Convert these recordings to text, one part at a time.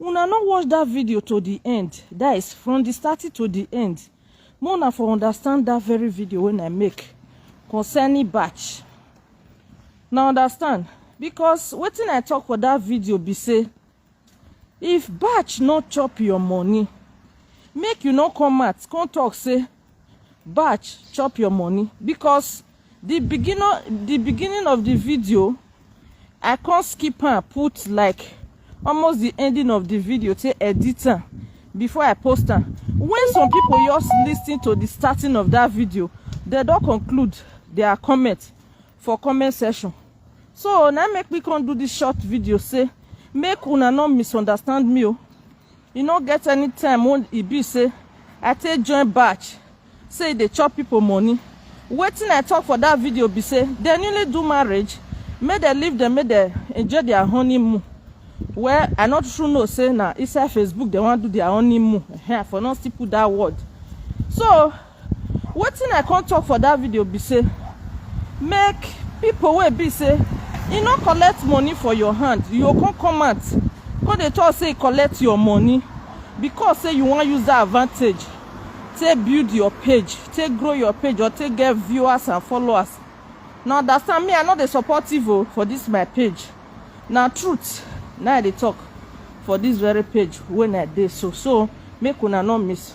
una no watch dat video to di end dat is from di starting to di end make una for understand dat very video wey i make concerning batch na understand because wetin i talk for dat video be say if batch no chop your money make you no come out come talk say Batch chop your money because the beginning the beginning of the video I can't skip and put like almost the ending of the video to edit am before I post am. When some people just listen to the starting of that video, they don't conclude their comment for comment section. So now make me come do this short video say make una not misunderstand me. Oh. e no get any time wey e be say i take join batch say e dey chop people money wetin i talk for that video be say dem newly do marriage make dem leave dem make dem enjoy their honeymoon well i no true know say na inside facebook dem wan do their honeymoon i for no still put that word so Wetin I come talk for that video be say make people wey be say e no collect money for your hand you go come come out come dey talk say e collect your money because say you wan use that advantage take build your page take grow your page or take get viewers and followers na understand me I no dey support evil for this my page na truth na I dey talk for this very page wey I dey so so make una no miss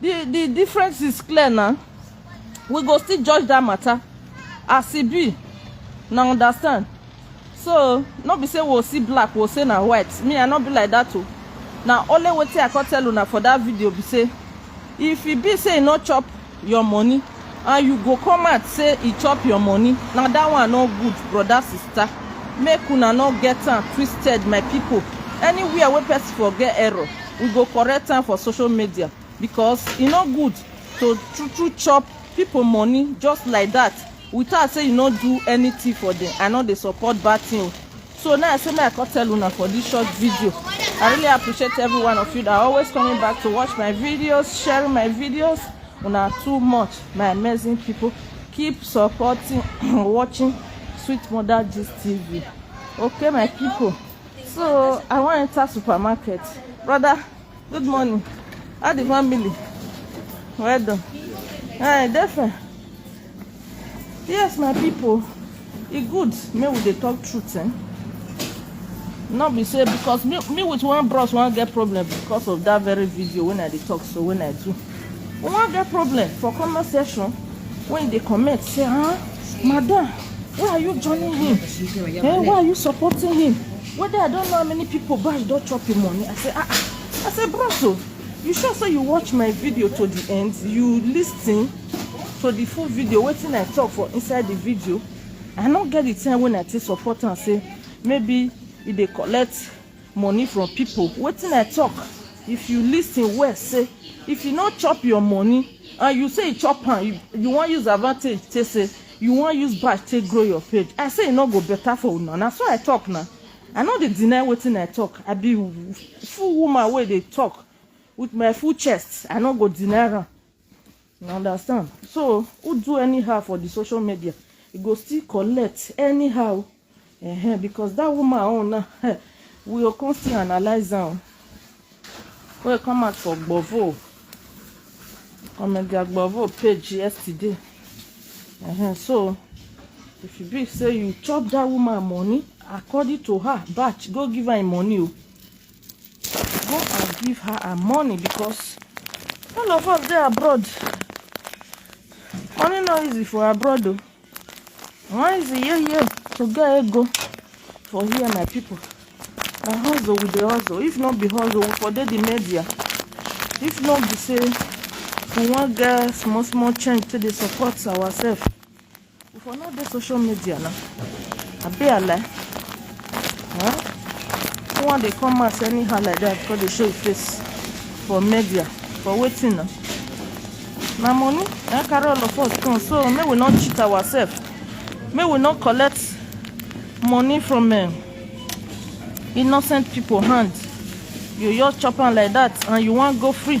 the the difference is clear na we go still judge that matter as e be na understand so no be say we go see black we go say na white me i no be like that o na only wetin i come tell una for that video be say if e be say e no chop your money and you go come out say e chop your money na that one no good brother sister make una no get am twisted my people anywhere wey person for get error we go correct am for social media because e no good to true true chop people money just like that without say you no do anything for them i no dey support bad thing o so now i say make i come tell una for this short video i really appreciate every one of you that are always coming back to watch my videos sharing my videos una too much my amazing people keep supporting watching sweet mother gist tv okay my people so i wan enter supermarket brother good morning how the family well done hi defe Yes, my people, e good make we dey talk truth. Eh? No be say because me, me with one bros wan get problem because of that very video when I dey talk so when I do. We wan get problem for comment section when they comment say, ah, madam, why are you joining him? Eh, why are you supporting him? Whether I don't know how many people buy don't chop him money. I say, ah, ah. I say, bros, oh, you sure say you watch my video to the end? You listen? so the full video wetin i talk for inside the video i no get the time when i take support am say maybe e dey collect money from people wetin i talk if you lis ten well say if you no chop your money and you say you chop am you, you wan use advantage take say you wan use bash take grow your page i say e no go better for una na so i talk na i no dey deny wetin i talk i be full woman wey dey talk with my full chest i no go deny am You understand? So, who do anyhow for the social media, e go still collect anyhow. Uh -huh, because that woman own now, eh, we go come still analyze am. Wey come out for Gbovo, Omega Gbovo page yesterday. Uh -huh, so, if e be say you chop that woman money, according to her, batch, go give her im money o. Go and give her her money because all of us dey abroad. Money no easy for abroad though. Why is it yeah yeah to get ego for here my people? Na hustle we dey hustle. If not be hustle, we for dey the media. If not be say we wan get small small change to dey support ourselves. You for not dey social media now. Abi ale. Huh? You wan dey come out anyhow like that come dey show your face for media for wetin na? Na money na carry all of us come so make we no cheat ourselves. Make we no collect money from um, innocent people hand. You just chop am like that and you wan go free.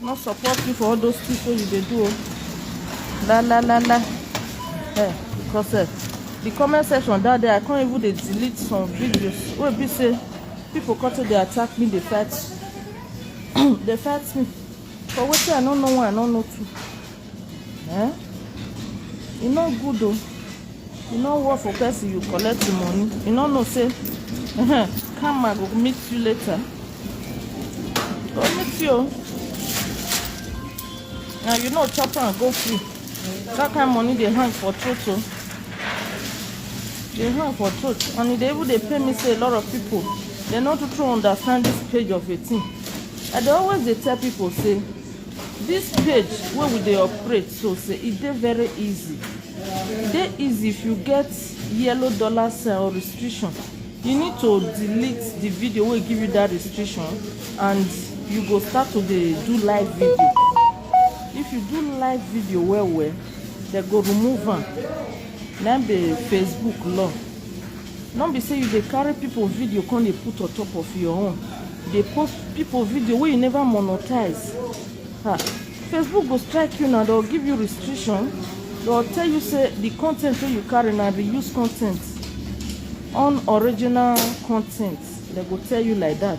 no support you for all those things wey you dey do o la la la la eh because eh the comment section that day i come even dey delete some videos wey be say people come take dey attack me dey fight dey fight me for wetin i no know one i no know two. Eh? E no good o. E no work for person you collect the money. You no know say karma go meet you later. Go meet you. Now you know chop am go free. That kind money dey hang for throat o. Dey hang for throat and e dey even dey pain me say a lot of people dem no too too understand this page of a thing. I dey always dey tell people say This page wey we dey operate so say e dey very easy. E dey easy if you get yellow dollar sign or restriction. You need to delete the video wey give you that restriction and you go start to dey do live video. If you do live video well well, they go remove am. Na be Facebook law. No be say you dey carry people video come dey put on top of your own. Dey post people video wey you never monetize. Ha. Facebook go strike you now, they'll give you restriction. They'll tell you say the content wey you carry na reuse content, unoriginal content. They go tell you like that.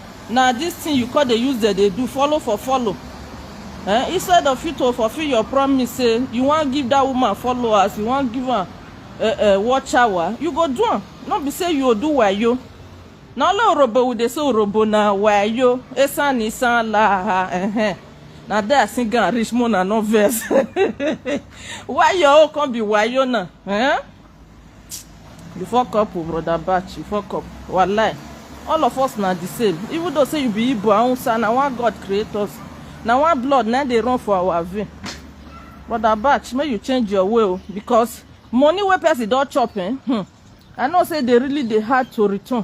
Na this thing you come dey use dem dey do follow for follow eh instead of you to fulfill your promise say you wan give that woman followers you wan give am eh eh watch hour you go do am no be say you go do wayo na only orobo we dey say orobo na wayo esan isan laha eh na there I sing am reach mo na no vex why your own come be wayo na eh You fuck up o brother Batch, you fuck up. Wallahi. All of us na the same. Even though say you be Igbo and Hausa, na one God create us. Na one blood na dey run for our vein. Brother Batch, make you change your way o because money wey person don chop eh, hmm, I know say dey really dey hard to return.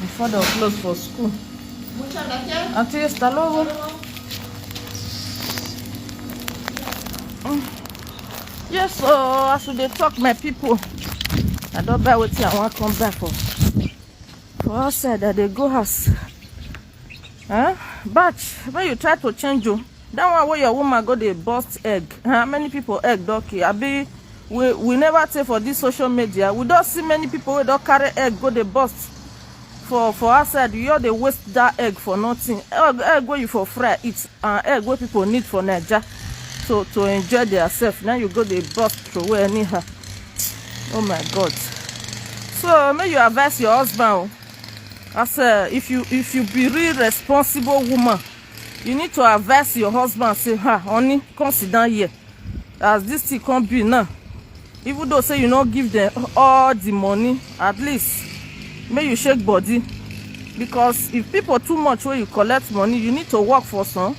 Before they'll close for school. Muchas gracias. A ti, hasta luego. Yes, so oh, as we dey talk, my people, I don't buy wetin I wan come back for. For outside, I dey go house. Huh? But when you try to change, you. Oh, That one wey your woman go dey burst egg. How many people egg don kill? Abi we we never tey for this social media. We don see many people wey don carry egg go dey burst for for outside. You all dey waste that egg for nothing. Egg, egg wey you for fry eat and egg wey people need for Naija to to enjoy themselves. Now you go dey burst throway anyhow. Oh my God. So make you advise your husband. oh. I say if you if you be real responsible woman, you need to advise your husband say ha honey come sit down here as this thing come be now even though say you no give them all the money at least make you shake body because if people too much wey you collect money you need to work for some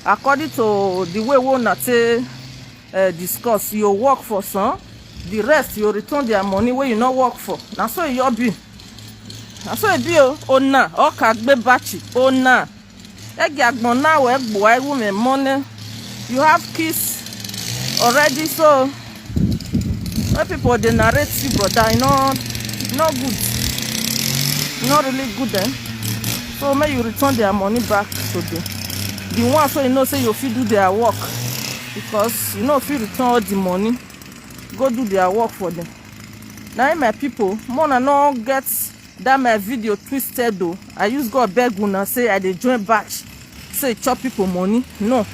according to the way wey una take uh, discuss you work for some the rest you return their money wey you no work for na so e your be na so e be o ona ọkà gbé bàchì ona Egi agbon na we gboa ewu me money. You have kids already so when people dey narrate you brother, you know not good. Not really good eh. So may you return their money back to the the one so you know say you fit do their work because you know fit return all the money go do their work for them. Now my people, more na no get That my video twisted though. I use God beg una say I dey join batch. Say chop people money. No.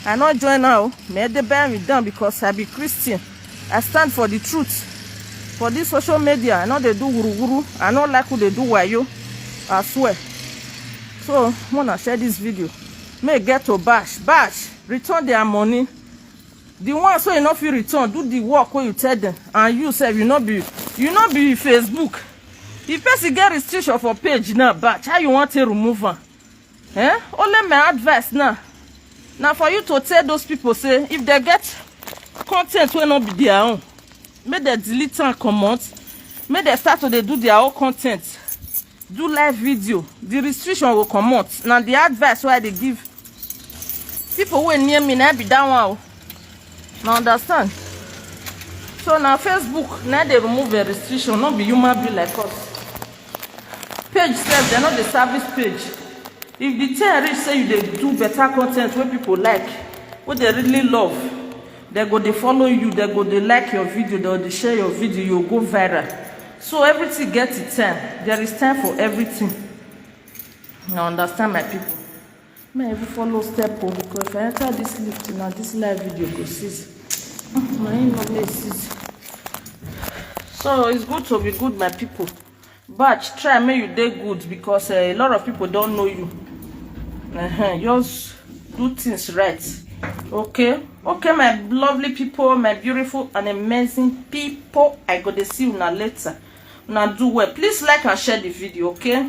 I not join now. Me dey bear me down because I be Christian. I stand for the truth. For this social media, I know they do wuru wuru. I know like who they do wayo. I swear. So, wanna share this video. May get to bash. Bash. Return their money. The ones wey you no fit return, do the work wey you tell them and you sef you no be you no be Facebook. If person get restriction for page now, batch, how you wan take remove am? Eh? Only my advice now na for you to tell those people say if they get content wey no be their own, make they delete am comot, make they start to dey do their own content. do live video the restriction go comot na the advice wey i dey give people wey near me na be that one o na understand so na facebook na dey remove the restriction no be human being like us page sef dem no dey service page if the thing reach say you dey do better content wey people like wey dey really love Dem go dey follow you, dem go dey like your video, dem go dey share your video, you go viral. So everything get its time. There is time for everything. Now understand my people. May I even follow step o because if I enter this lift now, this live video go cease. My in no may cease. So it's good to be good, my people. Batch, try make you dey good because uh, a lot of people don't know you. Uh -huh. Just do things right. Okay? Okay, my lovely people, my beautiful and amazing people. I go to see you now later. Now do well. Please like and share the video, okay?